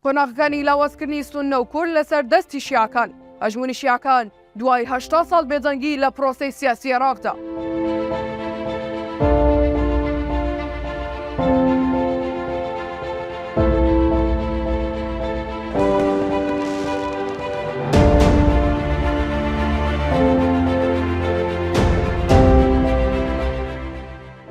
قۆناغەکانی لاوازکردنی سوننە و کورد لەسەر دەستی شیعەکان، هەژموونی شیعەکان دوای هەشتا ساڵ بێدەنگی لە پرۆسەی سیاسی عێراقدا.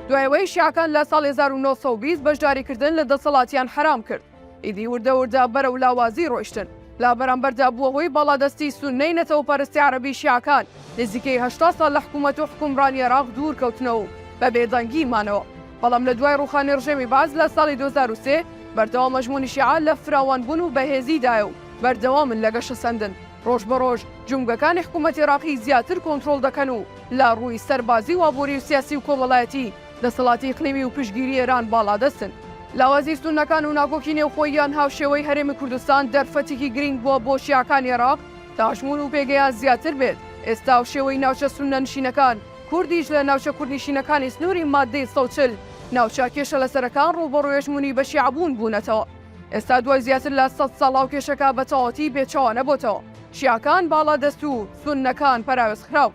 دوای ئەوەی شیعەکان لە ساڵی هەزار و نۆ سەد و بیست بەشداریکردن لە دەسەڵاتیان حەرام کرد، ئیدی وردە وردە بەرەو لاوازی ڕۆیشتن. لە بەرامبەردا بووە هۆی باڵادەستی سوننەی نەتەوەپەرستی عەرەبی شیعەکان، نزیکەی هەشتا ساڵ لە حکوومەت و حوکمڕانی عێراق دوور کەوتنەوە و بە بێدەنگی مانەوە. بەڵام لە دوای ڕووخانی ڕژێمی بەعس لە ساڵی دوو هەزار و سێ، بەردەوام ئەژموونی شیعە لە فراوان بوون و بەهێزی دایە و بەردەوامن لە گەشەسەندن. ڕۆژ بە ڕۆژ جومگەکانی حکوومەتی عێراقی زیاتر کۆنترۆڵ دەکەن و لە ڕووی سەربازی و ئابووری و سیاسی و کۆمەڵایەتی دەسەڵاتی ئیقلیمی و پشتگیری ئێران باڵادەستن. لاوازی سوننەکان و ناکۆکی نێوخۆییان هاوشێوەی هەرێمی کوردستان دەرفەتێکی گرینگ بووە بۆ شیعەکانی عێراق تا ژموون و پێگەیان زیاتر بێت. ئێستا هاوشێوەی ناوچە سوننەنشینەکان، کوردیش لە ناوچە کوردنیشینەکانی سنووری ماددەی سەد و چل ناوچە کێشەلەسەرەکان ڕووبەڕووی هەژموونی بەشیعەبوون بوونەتەوە. ئێستا دوای زیاتر لە سەد ساڵ ئەو کێشەکە بەتەواوەتی بێچوانەبۆتەوە. شیعەکان باڵادەست و سوننەکان پەراوێزخراو.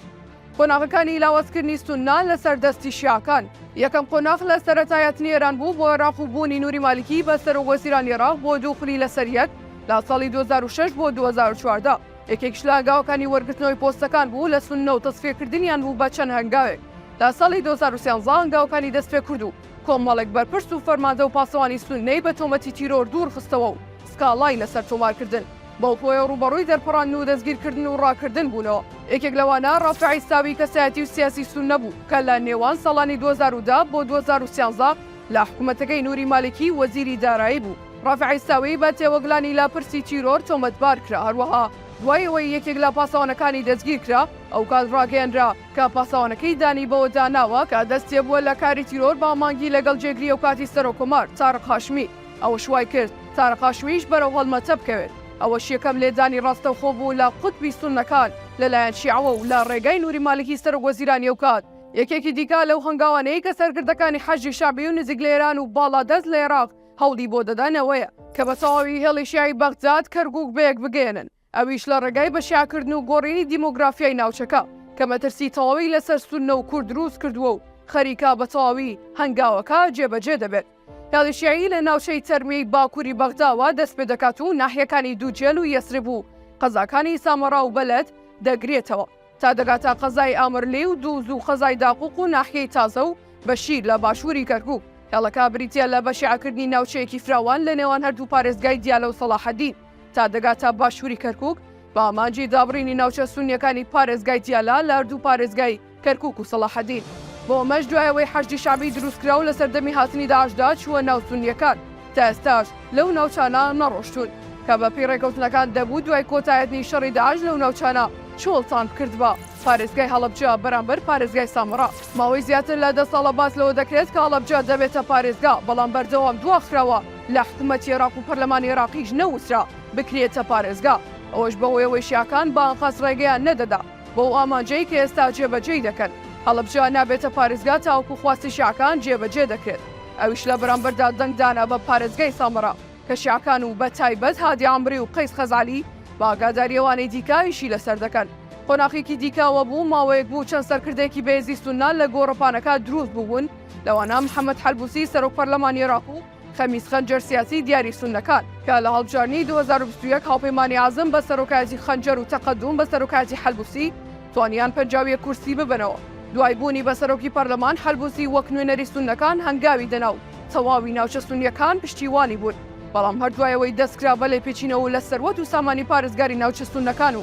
قۆناغەکانی لاوازکردنی سوننە لەسەر دەستی شیعەکان، یەکەم قۆناغ لە سەرەتایەتنی ئێران بوو بۆ عێراق و بوونی نوری مالیکی بە سەرۆک وەزیرانی عێراق بۆ دوو خولی لەسەر یەک لە ساڵی دوو هەزار و شەش بۆ دوو هەزار و چواردە. یەکێکیش لە هەنگاوەکانی وەرگرتنەوەی پۆستەکان بوو لە سوننە و تەسفیەکردنیان بوو بە چەند هەنگاوێک لە ساڵی دوو هەزار و سیانزە هەنگاوەکانی دەستپێکرد و کۆمەڵێک بەرپرس و فەرماندە و پاسەوانی سوننەی بە تۆمەتی تیرۆر دوورخستەوە و سکاڵای لەسەر تۆمارکردن بەوپۆیە ڕووبەڕووی دەرپەڕاندن و دەستگیرکردن و ڕاکردن بوونەوە، یەکێک لەوانە ڕافع عیساوی کەسایەتی و سیاسی سوننە بوو کە لە نێوان ساڵانی دوو هەزار و دە بۆ دوو هەزار و سیانزە لە حکومەتەکەی نوری مالکی وەزیری دارایی بوو. ڕافع عیساوی بە تێوەگلانی لە پرسی تیرۆر تۆمەتبار کرا، هەروەها دوای ئەوەی یەکێک لە پاسەوانەکانی دەستگیر کرا، ئەوکات ڕاگەیەنرا کە پاسەوانەکەی دانی بەوەدا ناوە کە دەستیەبووە لە کاری تیرۆر بە مانگی لەگەڵ جێگری ئەوکاتی سەرۆککۆمار، تارق هاشمی. ئەوەش وای کرد تارقاشوییش بەرەو هەڵمەتە بکەوێت، ئەوەش یەکەم لێدانی ڕاستەوخۆ بوو لە قوتبی سوننەکان لەلایەن شیعەوە و لە ڕێگای نوری مالکی سەرۆک وەزیرانی ئەو کات، یەکێکی دیکە لەو هەنگاوانەی کە سەرکردەکانی حەشدی شەعبی و نزیک لە ئێران و باڵادەست لە ئێراق هەوڵی بۆ دەدەن ئەوەیە کە بە تەواوی هێڵی شیعەی بەغداد، کەرکوک بەیەک بگەیەنن. ئەویش لە ڕێگای بە شیعەکردن و گۆڕینی دیمۆگرافیای ناوچەکە کە مەترسی تەواوی لەسەر سوننە و کورد دروست کردووە و خەریکە بە تەواوی هەنگاوەکە جێبەجێ دەبێت. هێڵی شیعی لە ناوچەی تەرمیەی باکووری بەغداوە دەست پێ دەکات و ناحیەکانی دووجێل و یەسرب و قەزاکانی سامەڕا و بەلەد دەگرێتەوە. تا دەگاتە قەزای ئامرلی و دووز و قەزای داقوق و ناحیەی تازە و بەشیر لە باشووری کەرکووک. هێڵەکە بریتییە لە بەشیعەکردنی ناوچەیەکی فراوان لە نێوان هەردوو پارێزگای دیالە و سەڵاحەدین تا دەگاتە باشووری کەرکووک بە ئامانجی دابڕینی ناوچە سوننیەکانی پارێزگای دیالە لە هەردوو پارێزگای کەرکووک و سەڵاحەدین. بۆ ئەمەش دوای ئەوەی حەشدی شەعبی دروستکرا و لە سەردەمی هاتنی داعشدا چووە ناو سوننیەکان، تا ئێستاش لەو ناوچانە نەڕۆشتوون، کە بەپێی ڕێکەوتنەکان دەبوو دوای کۆتایهتنی شەڕی داعش لەو ناوچانە چۆڵتان بکردبا. پارێزگای هەڵەبجە بەرامبەر پارێزگای سامەڕا ماوەی زیاتر لە دە ساڵە باس لەوە دەکرێت کە هەڵەبجە دەبێتە پارێزگا، بەڵام بەردەوام دواخراوە، لە حکوومەتی عێراق و پەرلەمانی عێراقیش نەوترا بکرێتە پارێزگا، ئەوەش بەهۆیەوەی شیعەکان بە ئەنقەست ڕێگەیان نەدەدا. بۆ ئەو ئامانجەی کە ئێستا جێبەجێی دەکەن. هەڵەبجە نابێتە پارێزگا تاوەکو خواستی شیعەکان جێبەجێ دەکرێت. ئەویش لە بەرامبەردا دەنگ دانە بە پارێزگای سامەڕا کە شیعەکان و بە تایبەت هادی عەمری و قەیس خەزعەلی بە ئاگاداری ئەوانەی دیکە ئیشی لەسەر دەکەن. قۆناخێکی دیکە ئەوە بوو ماوەیەک بوو چەند سەرکردەیەکی بەیەزی سوننە لە گۆڕەپانەکە دروست بووبوون لەوانە محەمەد حەلبوسی سەرۆک پەرلەمانی عێراق و خەمیس خەنجەر سیاسی دیاری سوننەکان کە لە هەڵبژاردنی دوو هەزار و بیست و یەک هاوپەیمانی عەزم بە سەرۆکایەتی خەنجەر و تەقەدووم بە سەرۆکایەتی حەلبووسی توانیان پەنجا و یەک کورسی ببەنەوە، دوای بوونی بە سەرۆکی پەرلەمان، حەلبووسی وەک نوێنەری سوننەکان هەنگاوی دەنا و تەواوی ناوچە سوننییەکان پشتیوانی بوون، بەڵام هەر دوای ئەوەی دەستکرا بە لێپێچینەوە لە سەروەت و سامانی پارێزگاری ناوچە سوننەکان و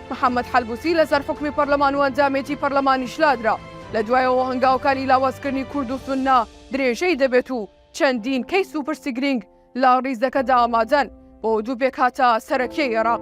محەمەد حەلبوسی لەسەر حوکمی پەرلەمان و ئەنجامێتی پەرلەمانیش لادرا، لە دوایەوە هەنگاوەکانی لاوازکردنی کورد و سوننە درێژەی دەبێت و چەندین کەیس و پرسی گرینگ لە ڕیزەکەدا ئامادەن بۆ دوو پێکهاتە سەرەکیی ئێراق.